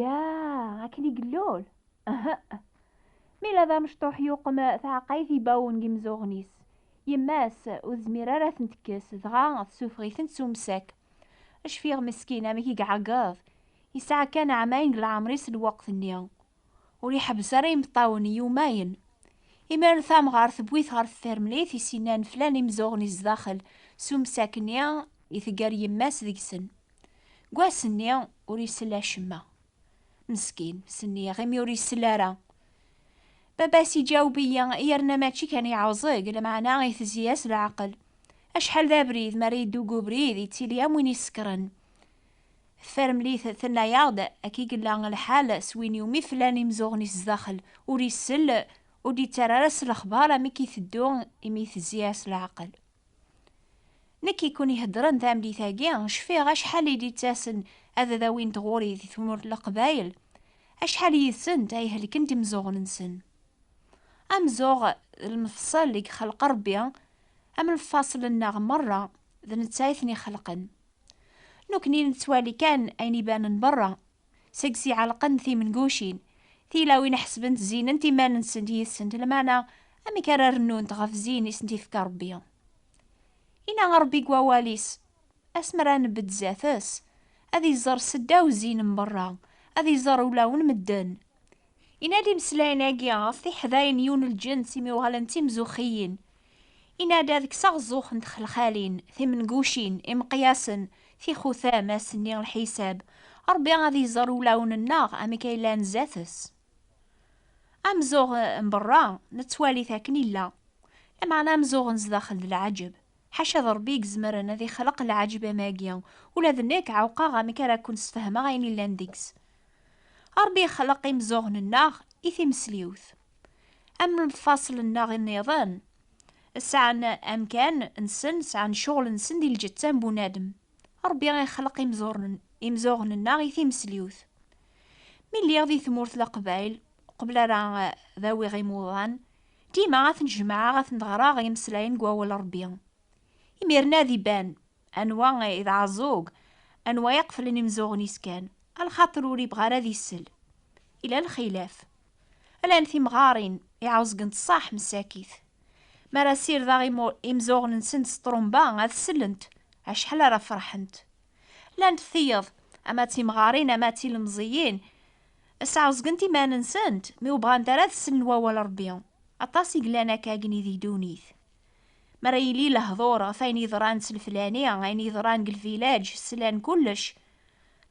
Ya, akken i gellul. Mi la d amecṭuḥ yuqem taɛeqqayt i bawen n yimzuɣen-is. Yemma-s ur tezmir ara ad ten-tekkes, dɣa tessuffeɣ-iten s umsak. Cfiɣ meskin amek i iɛeggeḍ, yesɛa kan ɛamayen deg leɛmer-is lweqt-nni. Ur iḥebbes ara imeṭṭawen i umayen. Imiren tamɣart tewwi-t ɣer tefremlit i s-innan flan imzuɣen i zdaxel s umsakni i tegger yemma-s deg-sen. Deg wass-nni ur isell acemma. Meskin, s-nniɣ, imi ur isell ara. Baba-s iǧaweb-iyi, yerna mačči kan yeɛẓeg, lameɛna itezzi-as leɛqel. Acḥal d abrid, mi ara yeddug ubrid, yettili am win isekren. Tefremlit tenna-aɣ-d akka i yella lḥal s win iwumi flan imzuɣen-is zdaxel, ur isell, ur d-ittarra ara s lexbar amek i iteddu imi itezzi-as leɛqel. Nekk i ken-iheddren tamlit-agi cfiɣ acḥal i d-ittasen ad d-awint ɣur-i di tmurt n Leqbayel, acḥal yid-sent ay helkent imzuɣen-nsen. Amzuɣ d lmefṣel i yexleq Rebbi, am lfaṣel-nneɣ merra, d netta i ten-ixelqen. Nukni nettwali kan ayen ibanen berra, seg-s iɛelqen timengucin, tilawin ḥesbent zinent iman-nsent yid-sent lemana amek ara rennunt ɣef zzin i sent-ifka Rebbi. Ina Rebbi deg wawal-is, Asmi ara nebedd zdat-s, ad iẓer seddaw zzin n berra, ad iẓer ulawen medden. Yenna-d imeslayen-agi ɣef tiḥdayin n yiwen lǧens imi uɣalen d timzuxxiyin. Yenna-d ad kkseɣ zzux n txelxalin, timengucin, imeqyasen, tixutam, ass-nni n lḥisab. Rebbi ad iẓer ulawen-nneɣ amek ay llan sdat-s. Amzuɣ n beṛṛa nettwali-t akken yella, lameɛna amzuɣ n sdaxel d lɛejeb. Ḥaca d Rebbi i izemren ad ixleq lɛejeb am wagi. Ula d nekk ɛewqeɣ amek ara ken-sfehmeɣ ayen yellan deg-s. Ṛebbi yexleq imeẓẓuɣen-nneɣ i timesliwt. Am lfaṣel-nneɣ nniḍen, sɛan amkan nsen, sɛan cɣel nsen di lǧetta n bunadem. Ṛebbi ixleq imeẓẓuɣen-nneɣ i timesliwt. Mi lliɣ di tmurt Leqbayel, qbel ara d awiɣ imuḍan, dima a ten-jemɛeɣ a ten-ɣreɣ imeslayen n wawal Ṛebbi. Imir-nni ad iban Anwa i d aɛeẓẓug? Anwa i qeflen imeẓẓuɣen-is kan, a lxaṭer ur ibɣi ara ad isel? Yella lxilaf. Llan timɣarin i ɛuẓgent ṣaḥ msakit. Mi ara sirdeɣ imeẓẓuɣen-nsent s ṭrumba ad sellent, acḥal ara ferḥent! Llant tiyeḍ, ama d timɣarin ama d tilemẓiyin, sɛuẓgent iman-nsent mi ur bɣant ara ad slen wawal Ṛebbi. Aṭas i yellan akka akken i di ddunit. Mi ara yili lehdur ɣef ayen yeḍran s leflani, ayen yeḍran deg lvilaǧ, slan kullec.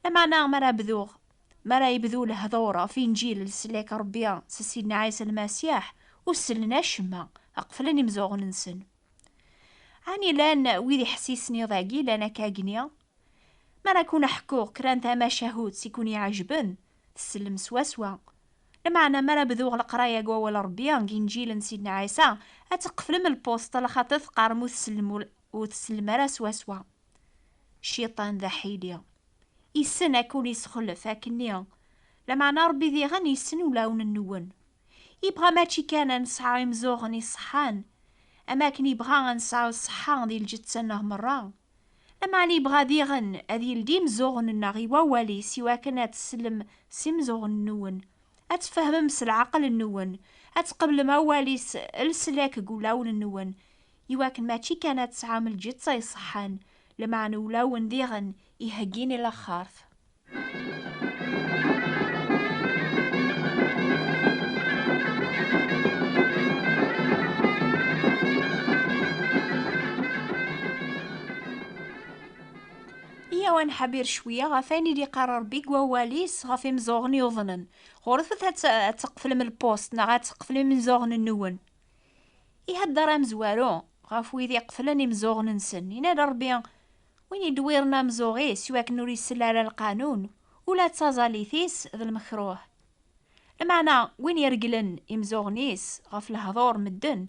Lameɛna mi ara bduɣ, mi ara yebdu lehdur ɣef Inǧil n Slek Rebbi s Sidna Ɛisa Lmasiḥ, ur sellen acemma, qeflen imzuɣen-nsen. Ɛni llan wid iḥessisen iḍ-agi llan akka agni? Mi ara kkun-ḥekkuɣ kra n tamacahut i kkun-iɛejben, tsellem swaswa, Lmeɛna, mi ara bduɣ leqraya deg Wawal n Rebbi, deg Inǧil n Sidna Ɛisa, ad tqeflem lpusṭel axaṭer teqqarem ur tsellem ur tsellem ara swaswa. Cciṭan d aḥili. Yessen ad ken-yessexlef akkenni. Lameɛna Rebbi diɣen yessen ulawen-nwen. Yebɣa mačči kan ad nesɛu imzuɣen iṣeḥḥan, am wakken yebɣa ad nesɛu ṣṣeḥḥa di lǧetta-nneɣ merra. Lameɛna yebɣa diɣen ad yeldi imeẓẓuɣen-nneɣ i wawal-is i wakken ad tsellem s imeẓẓuɣen-nwen, ad tfehmem s leɛqel-nwen, ad tqeblem awal-is d leslak deg wulawen-nwen, i wakken mačči kan ad tesɛum lǧeţţa iṣeḥḥan, lameɛna ulawen diɣen iheggin i laxert. Iyaw ad nḥabir cwiya ɣef ayen i d-iqqar Rebbi deg wawal-is ɣef imẓuɣen yuḍnen. Ɣuṛwet ad t- ad tqeflem lpust neɣ ad tqeflem imenzuɣen-nwen. Iheddeṛ amezwaru ɣef wid iqeflen imẓuɣen-nsen. Yenna-d Rebbi, Win idewwiren ameẓẓuɣ-is i wakken ur isell ara lqanun, ula d taẓallit-is d lmekruh. Lmeɛna, win ireglen imzuɣen-is ɣef lehḍur n medden,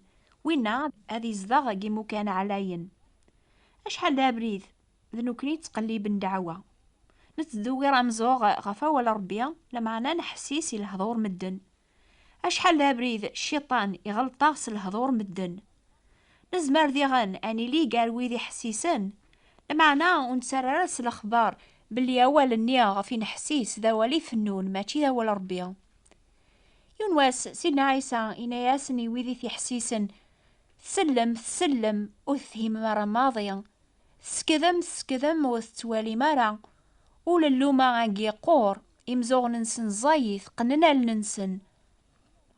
winna ad izdeɣ deg imukan ɛlayen. Acḥal d abrid, d nukni yettqelliben ddeɛwa. Nettdewwir ameẓẓuɣ ɣef awal n Rebbi, lameɛna neḥessis i lehḍur n medden, Acḥal d abrid cciṭan i ɣelṭeɣ s lehdur medden. Nezmer diɣen ad nili gar wid iḥessisen, lmeɛna ur nettarra ara s lexbar belli awal-nni ɣef i neḥessis d awal ifennun mačči d awal Rebbi. Yiwen wass Sidna Ɛisa yenna-yasen i wid i t-iḥessisen, Tsellem, tsellem, ur tefhimem ara maḍi, teskedem, teskedem, ur tettwalim ara, ulellum-a agi qur, Imzuɣen-nsen ẓẓayit, qqnen allen-nsen.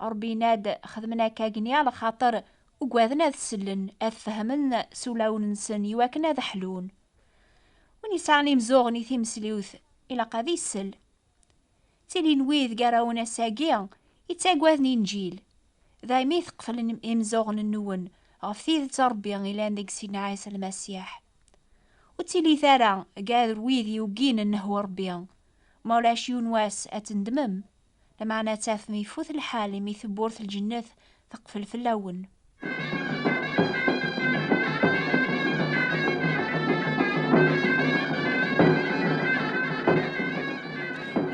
Ṛebbi yenna-d, Xedmen akkagi a lxaṭer ugaden ad sellen, ad fehmen s ulawen-nsen iwakken ad ḥlun. Win yesɛan imzuɣen i timesliwt ilaq ad isell. Ttilin wid gar awen ass-agi yettaggaden Inǧil, daymi i tqeflem imzuɣen-nwen ɣef tidet n Ṛebbi yellan deg Sidna Ɛisa Lmasiḥ. Ur ttilit ara gar wid yuggin nnehwa n Ṛebbi, Ma ulac yiwen wass ad tendmem, lameɛna ad tafem ifut lḥal imi tewwurt lǧennet teqfel fell-awen.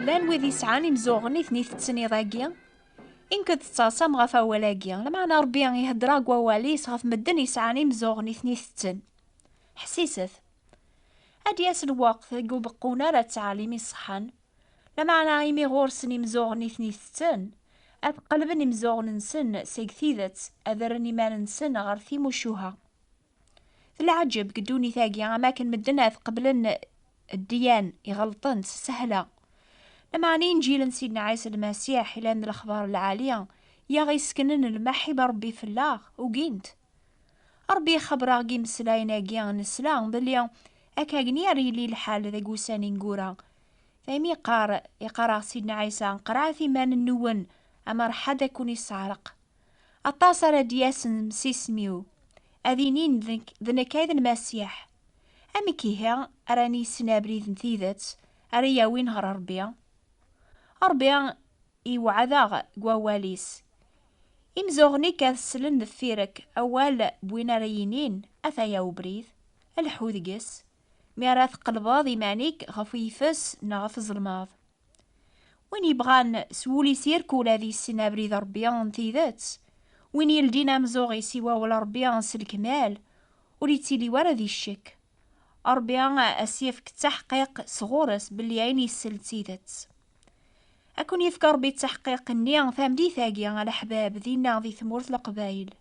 Llan wid yesɛan imzuɣen i ten-itetten iḍ-agi, i nekk d-tettaḍsam ɣef awal-agi, lameɛna Rebbi ihedder-aɣ deg wawal-is ɣef medden yesɛan imzuɣen i ten-itetten. Ḥessiset! Ad d-yas lweqt deg ur beqqun ara ttɛalim iṣeḥḥan, lameɛna imi ɣur-sen imzuɣen i ten-itetten, ad qelben imzuɣen-nsen seg tidet, ad rren iman-nsen ɣer timucuha. D lɛeǧǧeb deg ddunit-agi am akken medden ad qeblen ddyan iɣelṭen s sahla, lameɛna Inǧil n Sidna Ɛisa Lmasiḥ, yellan d lexbar lɛali, i aɣ-iseknen lmaḥib n Rebbi fell-aɣ, ugin-t. Ṛebbi ixebber-aɣ g imeslayen-agi, nesla belli akagni ar yelli lḥal deg wussan ineggura. Daymi yeqqar, iqqar-aɣ-d Sidna Ɛisa, Qerɛet iman-nwen, amer ḥad a kkun-isseɛreq. Aṭas ara d-yasen s isem-iw, ad inin d nekk ay d Lmasiḥ. Amek ihi ara nissin abrid n tidet ara y-awin ɣer Ṛebbi? Ṛebbi Iwɛed-aɣ deg wawal-is. Imzuɣen-ik ad slen deffir-k awal n win ara yinin, Ataya ubrid, lḥu deg-s, mi ara tqelbeḍ iman-ik ɣef uyeffes neɣ ɣef uzelmaḍ. Win yebɣan s wul-is irkul ad yissin abrid n Rebbi n tidet, win yeldin ameẓẓuɣ-is i wawal n Rebbi s lekmal, ur ittili wara di ccek. Rebbi a s-yefk ttaḥqiq sɣur-s belli ayen yessel d tidet. Akun yefk Rebbi ttaḥqiq-nni tameddit-agi a leḥbab dinna di tmurt Leqbayel.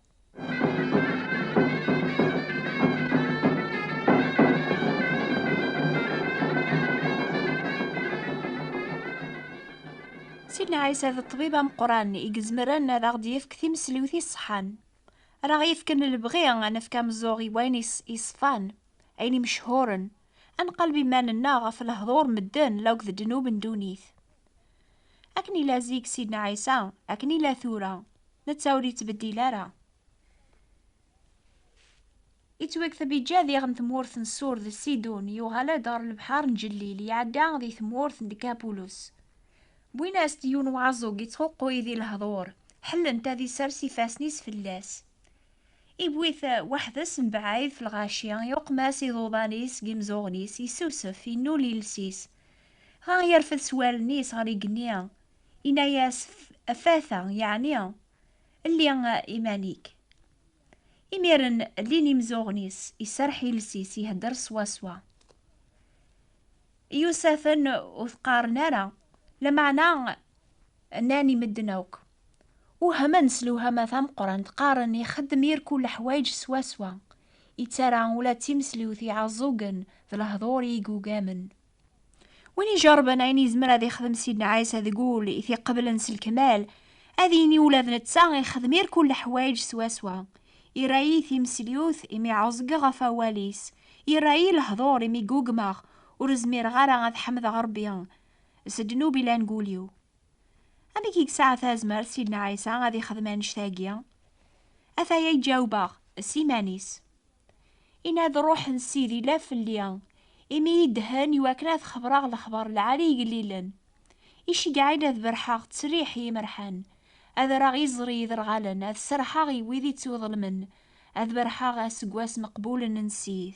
Sidna Ɛisa d ṭṭbib ameqqran i izemren ad aɣ-d-yefk timesliwt iṣeḥḥan. Ad aɣ-yefken lebɣi ad nefk ameẓẓuɣ i wayen iṣfan, ayen imechhuren, Ad nqaleb iman-nneɣ ɣef lehḍur n medden la akked ddnub n ddunit. Akken yella zik Sidna Ɛisa, akken yella tura, netta ur yettbeddil ara. Yettwakteb iǧǧa diɣen tmurt n Ṣur d Ṣidun, yuɣal-d ɣer lebḥer n Ǧellil, iɛedda di tmurt n Dkapulus. Wwin-as-d yiwen uɛeẓẓug yettquqquy di lehḍur, ḥellent ad isers ifassen-is fell-as. Iwwi-t weḥd-s mebɛid f lɣaci, iqum-as iḍuḍan-is g imzuɣen-is, yessusef, innul iles-is. Ɣa yerfed s wallen-is ɣer igenni, inna-yas, A Fata, yeɛni, lli iman-ik. Imiren llin imzuɣen-is, iserreḥ iles-is, ihedder swaswa. Iyusafen ur t-qqaren ara, lameɛna nnan i medden akk. Uhaman s lewhama tameqqrant, qqaren ixeddem irku leḥwayeǧ swaswa, ittara ula d timesliwt iɛeẓẓugen d lehdur igugamen. Win ijerben ayen yezmer ad ixdem Sidna Ɛisa deg wul it iqeblen s lekmal, ad yini ula d netta ixdem irku leḥwayeǧ swaswa, ira-yi timesliwt imi ɛuẓgeɣ ɣef awal-is, ira-yi lehdur imi gugmeɣ ur zmireɣ ara ad ḥemdeɣ Rebbi s ddnub ilan gul-iw. Amek i yesɛa tazmert Sidna Ɛisa ad ixdem annect-agi? Ataya yeǧǧaweb-aɣ s iman-is. Inna-d, Ṛuḥ n Sidi ila fell-i, imi i ddhen i wakken ad xebṛeɣ lexbaṛ lɛali igellilen. Iceggeɛ-id ad berrḥeɣ ţţriḥ i imerḥan, ad rreɣ iẓri i iderɣalen, ad serrḥeɣ i wid i ţţuḍelmen, ad berrḥeɣ aseggas meqbulen n Ssid.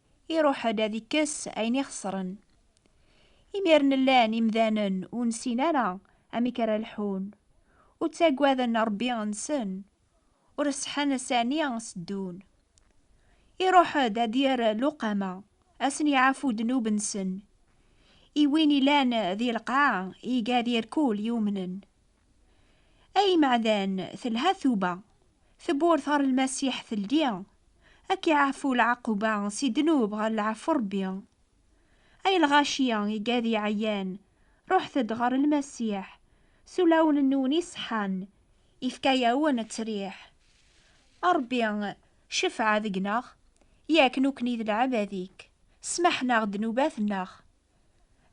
iruḥ-d ad ikkes ayen ixeṣren. Imiren llan imdanen ur nessin ara amek ara lḥun, ur ttaggaden Rebbi nsen, ur seḥḥan sani seddun. Iruḥ-d ad yerr luqama, ad sen-iɛafu ddnub nsen. I win ilan di lqaɛa iga di rkul yumnen, Ay imeɛdan, telha tuba. Tewwurt ɣer Lmasiḥ teldi. Ad k-iɛfu lɛaquba si ddnub ɣer lɛafu n Rebbi. Ay lɣaci, igad iɛeyyan, ruḥet-d ɣer Lmasiḥ, s ulawen-nwen iṣeḥḥan, ifka-yawen ttriḥ. A Rebbi, cefɛa deg-neɣ, yak nukni d lɛebad-ik, smaḥ-naɣ ddnubat-nneɣ,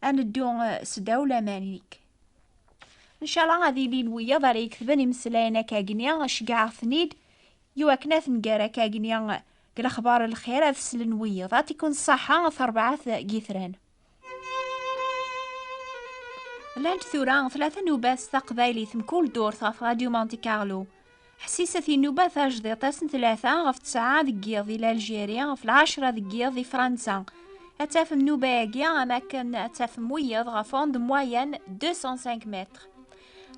ad neddu seddaw laman-ik. Ncala ad ilin wiyaḍ ara yeketben imeslayen akagni, ceggɛeɣ-ten-id i wakken ad ten-ger akagni deg lexbar n lxir ad slen wiyaḍ. Ad tikun ṣṣaḥa terbaɛt n yitran. Llant tura tlata n ubas taqbaylit mkul durt ɣef Radio Monte Carlo. Ḥsisa tinuba tajdiṭ ass n tlata ɣef tesɛa deg yiḍ di Laljieri ɣef lɛecra deg yiḍ di Fransa. Ad tafem nuba-agi am akken ad tafem wiyaḍ ɣef onde moyen 205 metr.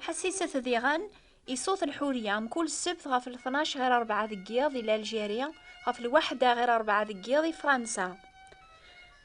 Ḥsiset diɣen i ṣut lḥuriya mkul ssebt ɣef ltnac ɣir rebɛa deg yiḍ di Laljieri ɣef lwaḥda ɣir rebɛa deg yiḍ di Fransa.